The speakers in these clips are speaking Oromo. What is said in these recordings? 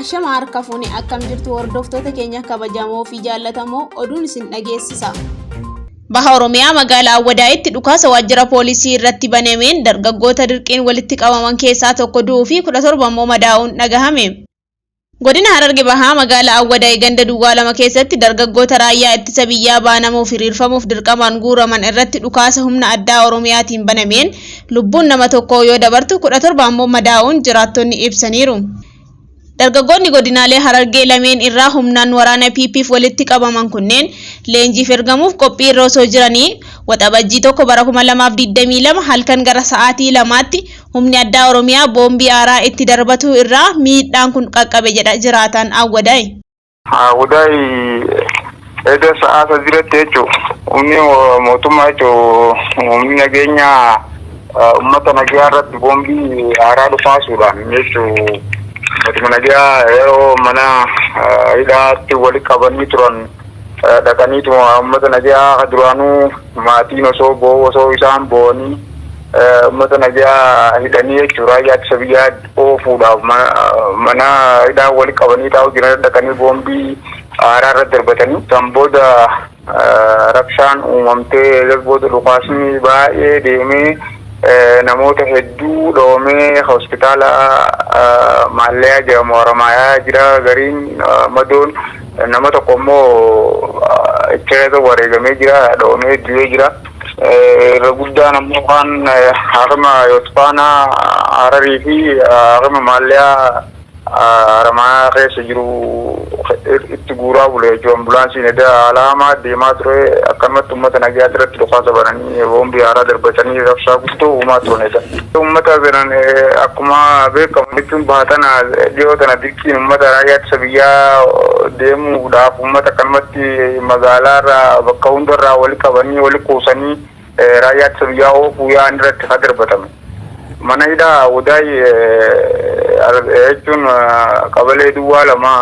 Ashama harka fuune akkam jirtu hordoftoota keenya kabajamoo fi jaallatamoo oduun isin dhageessisa. Baha Oromiyaa magaalaa Awwadaayitti dhukaasa waajjira poolisii irratti banameen dargaggoota dirqiin walitti qabaman keessaa tokko du'uu fi 17 immoo madaa'uun dhagahame. Godina Hararge Bahaa magaalaa Awwadaay ganda duwwaa 2 keessatti dargaggoota raayyaa ittisa biyyaa baanamuuf hiriirfamuuf dirqamaan guuraman irratti dhukaasa humna addaa Oromiyaatiin banameen lubbuun nama tokkoo yoo dabartu 17 ammoo madaa'uun jiraattonni ibsaniiru. Dargaggoonni godinaalee Harargee lameen irraa humnaan waraana PPf walitti qabaman kunneen leenjiif ergamuuf qophii irra osoo jiranii Waxabajjii 1 bara 2022 halkan gara sa'aatii 2tti Humni Addaa Oromiyaa boombii aaraa itti darbatuu irraa miidhaan kun qaqqabe jedha jiraataan Awwadaay. Awwadaay eda sa'aa sadiratti jechu humni mootummaa jechu humni nageenya ummata nagaa irratti boombii aaraa dhukaasuudhaan jechu uummatuma nagaa yeroo mana hidhaatti wali qabanii turan dhaqaniituma ummata nagaa ka duraanuu maatiin osoo boo'u osoo isaan boo'anii ummata nagaa hidhanii jechuu raayyaa ittisa biyyaa oofuudhaaf mana hidhaa wali qabanii taa'u jiran dhaqanii boombii aaraa irra darbatanii san booda rabshaan uumamtee eegas booda dhukaasni baay'ee deemee namoota hedduu dhoomee hospitaala maalleeyaa jedhamu haramaayaa jira gariin madoon Nama tokko immoo Cherebe wareegamee jira, dhawamee du'ee jira. Irra guddaan ammoo waan Haakima Yootfaanaa Hararii fi Haakima Maalliyaa Haramaayaa keessa jiru itti guuraa bule jechuudha. Ambulaansiin edaa haala hamaa deemaa ture. Akkanumatti uummata nagayaa irratti dhukaasa bananii boombii haaraa darbatanii rabshaa guddoo uumaa turan edaa. Uummata biran akkuma beekamu jechuun baha tana dhiyoo tana Uummata raayyaa ittisa biyyaa deemuudhaaf uummata akkanumatti magaalaarra bakka hundarraa wali qabanii wali kuusanii raayyaa ittisa biyyaa oofuu yaa'an irratti ka darbatame. Mana hidhaa Awudaay jechuun qabalee duwwaa lama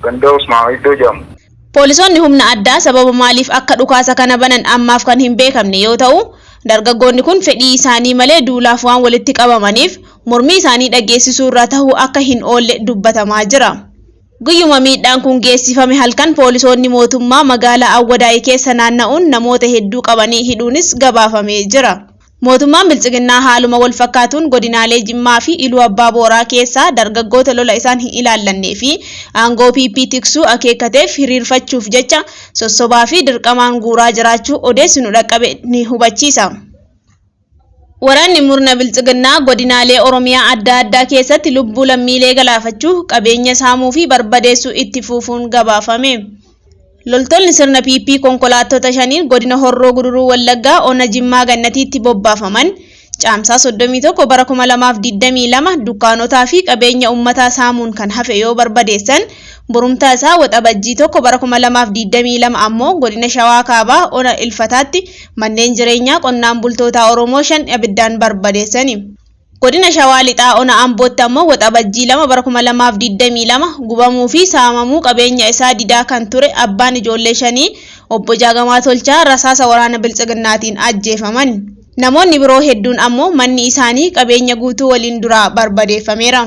ganda Usmaama iddoo jedhamu. Poolisoonni humna addaa sababa maaliif akka dhukaasa kana banan ammaaf kan hin beekamne yoo ta'u, dargaggoonni kun fedhii isaanii malee duulaaf waan walitti qabamaniif mormii isaanii dhageessisuu irraa tahuu akka hin oolle dubbatamaa jira. Guyyuma miidhaan kun geessifame halkan poolisoonni mootummaa magaalaa Awwadaay keessa naanna'uun namoota hedduu qabanii hidhuunis gabaafamee jira. Mootummaan Biltsiginnaa haaluma wal fakkaatuun godinaalee Jimmaa fi Iluu Abbaa Booraa keessaa dargaggoota lola isaan hin ilaallannee fi aangoo PP tiksuu akeekkateef hiriirfachuuf jecha sossobaa fi dirqamaan guuraa jiraachuu odeessi nu dhaqqabe ni hubachiisa. Waraanni murna Biltsiginnaa godinaalee Oromiyaa adda addaa keessatti lubbuu lammiilee galaafachuu, qabeenya saamuu fi barbadeessuu itti fuufuun gabaafame. Loltoonni sirna PP konkolaattota shaniin godina Horroo Guduruu Wallaggaa ona Jimmaa Gannatiitti bobbaafaman Caamsaa 31 bara 2022 dukkaanotaa fi qabeenya ummataa saamuun kan hafe yoo barbadeessan borumtaa isaa Waxabajjii 1 bara 2022 ammoo godina Shawaa Kaabaa ona Ilfataatti manneen jireenyaa qonnaan bultootaa Oromoo shan abiddaan barbadeessani. Godina Shawaa Lixaa Ona Ambootti ammoo Waxabajjii 2 bara 2022 gubamuu fi saamamuu qabeenya isaa didaa kan ture abbaan ijoollee shanii Obbo Jaagamaa Tolchaa rasaasa waraana Biltsiginnaatiin ajjeefaman. Namoonni biroo hedduun ammoo manni isaanii qabeenya guutuu waliin duraa barbadeeffameera.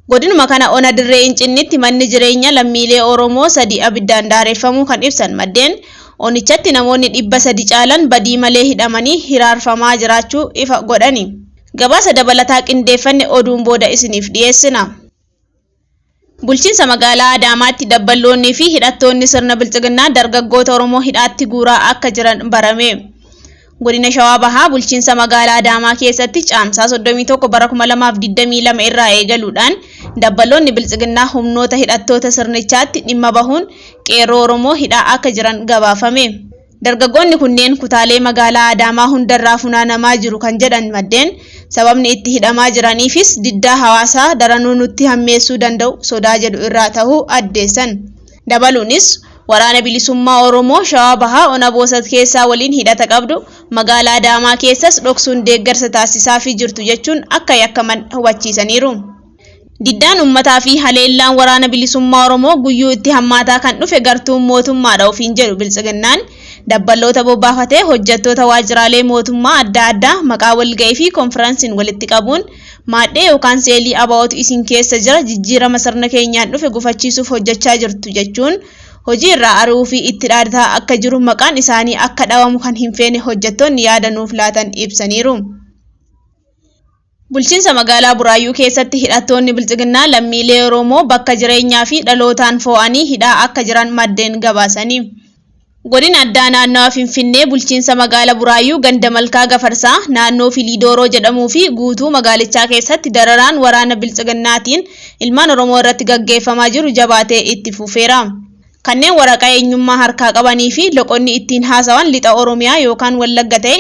Godinuma kana ona Dirree Incinnitti manni jireenya lammiilee Oromoo sadii abiddaan daareffamuu kan ibsan maddeen, onichatti namoonni 300 caalan badii malee hidhamanii hiraarfamaa jiraachuu ifa godhani. Gabaasa dabalataa qindeeffanne oduun booda isiniif dhiyeessina. Bulchiinsa magaalaa Adaamaatti dabballoonnii fi hidhattoonni sirna bilxiginnaa dargaggoota Oromoo hidhaatti guuraa akka jiran barame. Godina Shawaa Bahaa bulchiinsa magaalaa Adaamaa keessatti caamsaa 31 bara 2022 irraa eegaluudhaan dabbaloonni biltsiginnaa humnoota hidhattoota sirnichaatti dhimma bahuun qeerroo Oromoo hidhaa akka jiran gabaafame. Dargaggoonni kunneen kutaalee magaalaa Adaamaa hundarraa funaanamaa jiru kan jedhan maddeen, sababni itti hidhamaa jiraniifis diddaa hawaasaa daranuu nutti hammeessuu danda'u sodaa jedhu irraa ta'uu addeessan. Dabaluunis, Waraana Bilisummaa Oromoo Shawaa Bahaa Ona Boosat keessaa waliin hidhata qabdu, Magaala Adaamaa keessas dhoksuun deeggarsa taasisaafii jirtu jechuun akka yakkaman hubachiisaniiru. Diddaan ummataa fi haleellaan Waraana Bilisummaa Oromoo guyyuu itti hammaataa kan dhufe gartuun mootummaadha ofiin jedhu Biltsiginnaan, dabballoota bobbaafatee hojjattoota waajjiraalee mootummaa adda addaa maqaa walga'ii fi konfiransiin walitti qabuun, Maadhee yookaan seelii ABOtu isin keessa jira, jijjiirama sirna keenyaan dhufe gufachiisuuf hojjechaa jirtu jechuun hojii irraa ari'uu fi itti dhaadataa akka jiru maqaan isaanii akka dhawamu kan hin feene hojjettoonni yaada nuuf laatan ibsaniiru. Bulchiinsa magaalaa Buraayyuu keessatti hidhattoonni Biltsiginnaa lammiilee Oromoo bakka jireenyaa fi dhalootaan foo'anii hidhaa akka jiran maddeen gabaasani. Godina Addaa Naannawa Finfinnee Bulchiinsa Magaala Buraayyuu Ganda Malkaa Gafarsaa naannoo Filii Dooroo jedhamuu fi guutuu magaalichaa keessatti dararaan waraana Biltsiginnaatiin ilmaan Oromoo irratti gaggeeffamaa jiru jabaatee itti fufeera. Kanneen waraqaa eenyummaa harkaa qabanii fi loqonni ittiin haasawan Lixa Oromiyaa yookaan Wallagga ta'e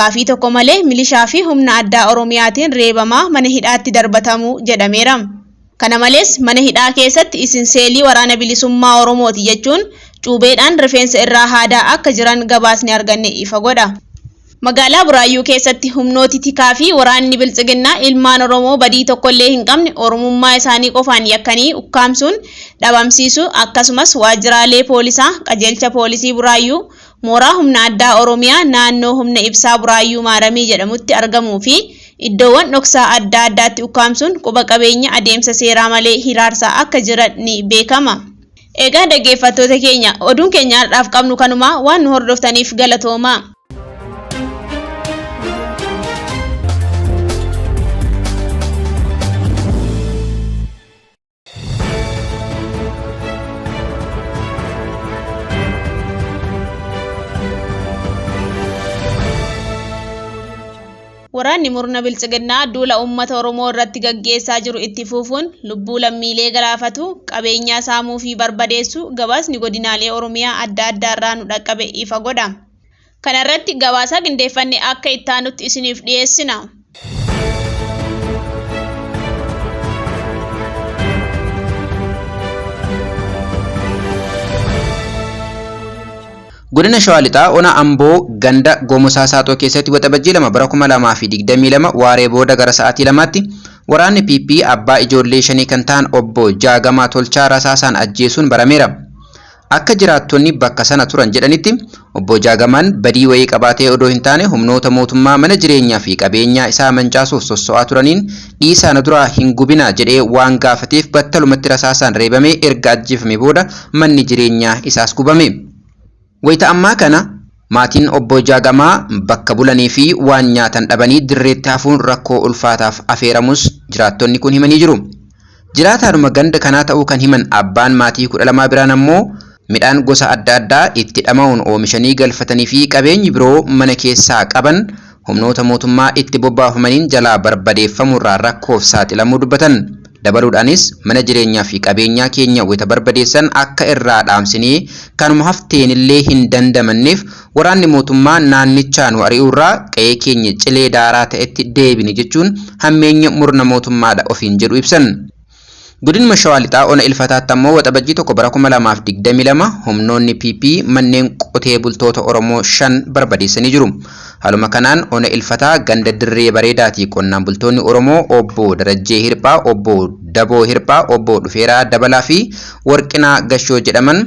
gaafii tokko malee milishaa fi humna addaa Oromiyaatiin reebamaa mana hidhaatti darbatamu jedhameera. Kana malees, mana hidhaa keessatti isin seelii Waraana Bilisummaa Oromooti jechuun cuubeedhaan rifeensa irraa haadaa akka jiran gabaasni arganne ifa godha. Magaalaa Buraayyuu keessatti humnooti tikaa fi waraanni Biltsiginnaa ilmaan Oromoo badii tokkollee hin qabne Oromummaa isaanii qofaan yakkanii ukkaamsuun dhabamsiisuu akkasumas waajjiraalee poolisaa, Qajeelcha Poolisii Buraayyuu, Mooraa Humna Addaa Oromiyaa naannoo Humna Ibsaa Buraayyuu Maaramii jedhamutti argamuu fi iddoowwan dhoksaa adda addaatti ukkaamsuun quba qabeenya adeemsa seeraa malee hiraarsaa akka jiran ni beekama. Egaa dhaggeeffattoota keenya, oduun keenya har'aaf qabnu kanuma, waan nu hordoftaniif galatoomaa. Waraanni murna biltsiginnaa duula uummata Oromoo irratti gaggeessaa jiru itti fufuun lubbuu lammiilee galaafatu, qabeenyaa saamuu fi barbadeessu gabaasni godinaalee Oromiyaa adda addaa irraa nu dhaqqabe ifa godha. Kana irratti gabaasaa qindeeffanne akka itti aanutti isiniif dhiyeessina. Godina Shawaa Lixaa Ona Amboo ganda Gomosaa Saaxoo keessatti waxabajjii lama bara 2022 waaree booda gara sa'aatii lamaatti waraanni PP abbaa ijoollee shanii kan ta'an obbo Jaagamaa Tolchaa rasaasaan ajjeesuun barameera. Akka jiraattonni bakka sana turan jedhanitti, Obbo Jaagamaan badii wayii qabaatee odoo hin taane humnoota mootummaa mana jireenyaa fi qabeenyaa isaa mancaasuuf sosso'aa turaniin dhiisaa na duraa hin gubinaa jedhee waan gaafateef battalumatti rasaasaan reebamee erga ajjeefamee booda manni jireenyaa isaas gubame. Wayita ammaa kana. Maatiin Obboo Jaagamaa bakka bulanii fi waan nyaatan dhabanii dirreetti hafuun rakkoo ulfaataaf afeeramuus jiraattonni kun himanii jiru. Jiraataadhuma ganda kanaa ta'uu kan himan abbaan maatii 12 biraan ammoo midhaan gosa adda addaa itti dhama'uun oomishanii galfatanii fi qabeenyi biroo mana keessaa qaban humnoota mootummaa itti bobbaafamaniin jalaa barbadeeffamuurraa rakkoof saaxilamuu dubbatan. Dabaluudhaanis, mana jireenyaa fi qabeenyaa keenya wayita barbadeessan akka irraa dhaamsinee kanuma hafteenillee hin dandamanneef waraanni mootummaa naannichaa nu ari'uurraa qa'ee keenya cilee daaraa ta'etti deebine jechuun hammeenya murna mootummaadha ofiin jedhu ibsan. Godinuma Shawaa Lixaa Ona Ilfataatti ammoo Waxabajjii 1 bara 2022 humnoonni PP manneen qotee bultoota Oromoo 5 barbadeessanii jiru. Haaluma kanaan Ona Ilfataa ganda Dirree Bareedaatii qonnaan bultoonni Oromoo Obbo Darajjee Hirphaa, Obbo Daboo Hirphaa, Obbo Dhufeeraa Dabalaa fi Warqinaa Gashoo jedhaman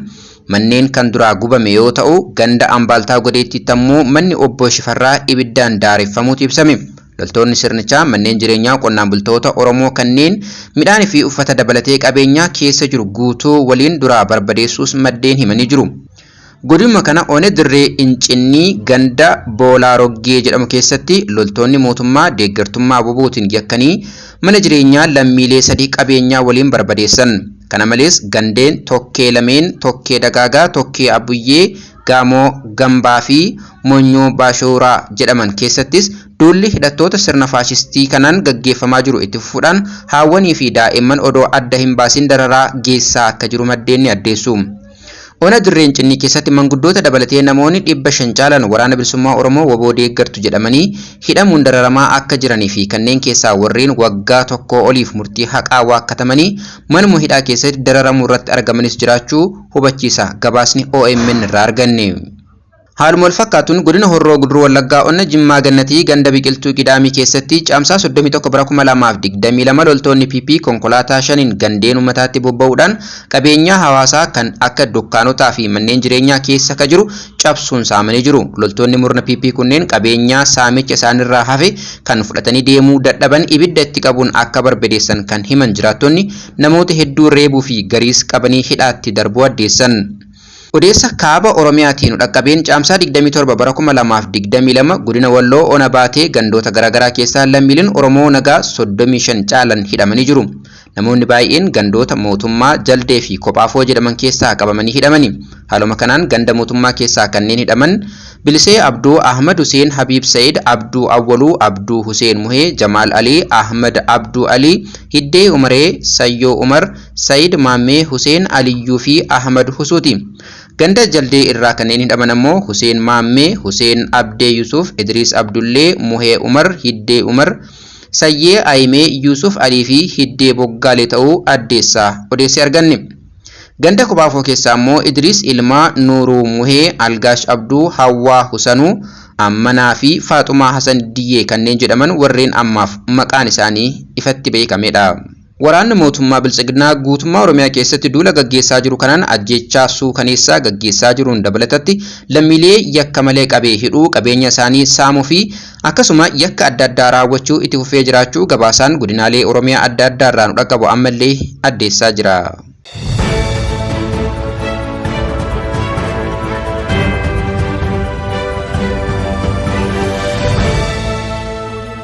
manneen kan duraa gubame yoo ta'u, ganda Ambaaltaa Godeettiitti ammoo manni Obbo Shifarraa ibiddaan daareffamuutu ibsame. Loltoonni sirnichaa manneen jireenyaa qonnaan bultoota Oromoo kanneen midhaanii fi uffata dabalatee qabeenyaa keessa jiru guutuu waliin duraa barbadeessuus maddeen himanii jiru. Godinuma kana Ona Dirree Incinnii ganda Boolaa Roggee jedhamu keessatti loltoonni mootummaa deeggartummaa WBOtiin yakkanii mana jireenyaa lammiilee sadii qabeenyaa waliin barbadeessan. Kana malees gandeen Tokkee Lameen, Tokkee Dagaagaa, Tokkee Abbuyyee, Gaamoo Gambaa fi Monyoo Baashowuraa jedhaman keessattis duulli hidhattoota sirna faashistii kanaan gaggeeffamaa jiru itti fufuudhaan haawwanii fi daa'imman odoo adda hin baasin dararaa geessisaa akka jiru maddeen ni addeessu. Ona Dirree Incinnii keessatti manguddoota dabalatee namoonni 500 caalan Waraana Bilisummaa Oromoo, wbo, deeggartu jedhamanii hidhamuun dararamaa akka jiranii fi kanneen keessaa warreen waggaa tokkoo oliif murtii haqaa waakkatamanii manuma hidhaa keessatti dararamuurratti argamanis jiraachuu hubachiisa gabaasni omn irraa arganne. Haaluma wal fakkaatuun godina Horroo Guduruu Wallaggaa ona Jimmaa Gannatii ganda Biqiltuu Qidaamii keessatti Caamsaa 31 bara 2022 loltoonni PP konkolaataa shaniin gandeen ummataatti bobba'uudhaan qabeenyaa hawaasaa kan akka dukkaanotaa fi manneen jireenyaa keessa ka jiru cabsuun saamanii jiru. Loltoonni murna PP kunneen qabeenyaa saamicha isaanirraa hafe kan fudhatanii deemuu dadhaban ibidda itti qabuun akka barbadeessan kan himan jiraattonni namoota hedduu reebuu fi gariis qabanii hidhaatti darbuu addeessan. Odeessa Kaaba Oromiyaatii nu dhaqqabeen Caamsaa 27 bara 2022 Godina Walloo Ona Baatee gandoota garaagaraa keessaa lammiileen Oromoo nagaa 35 caalan hidhamanii jiru. Namoonni baay'een gandoota Mootummaa, Jaldee fi Kophaafoo jedhaman keessaa qabamanii hidhamani. Haaluma kanaan ganda Mootummaa keessaa kanneen hidhaman Bilisee Abduu, Ahmad Huseen, Habiib Sa'id, Abduu Awwaluu, Abduu Huseen Muhee, Jamaal Ali, Ahmad Abduu Ali, Hiddee Umaree, Sayyoo Umar, Sa'id Maammee, Huseen Aliyyuu fi Ahmad Husuuti. Ganda Jaldee irraa kanneen hidhaman ammoo Huseen Maammee, Huseen Abdee Yusuuf, Idriis Abdullee, Muhee Umar, Hiddee Umar, Sayyee Ayimee, Yusuuf Alii fi Hiddee Boggaalee ta'uu addeessaa odeesse arganne. Ganda Kobaafoo keessaa ammoo Idriis Ilmaa, Nuuruu Muhee, Algaash Abduu, Hawwaa Husanuu, Ammanaa fi Faaxumaa Hasan Diyyee kanneen jedhaman warreen ammaaf maqaan isaanii ifatti beekamedha. Waraanni mootummaa Biltsiginnaa guutummaa Oromiyaa keessatti duula gaggeessaa jiru kanaan ajjeechaa suukaneessaa gaggeessaa jiruun dabalatatti lammiilee yakka malee qabee hidhuu, qabeenya isaanii saamuu fi Akkasuma yakka adda addaa raawwachuu itti fufee jiraachuu gabaasaan godinaalee Oromiyaa adda addaa irraa nu dhaqqabu ammallee addeessaa jira.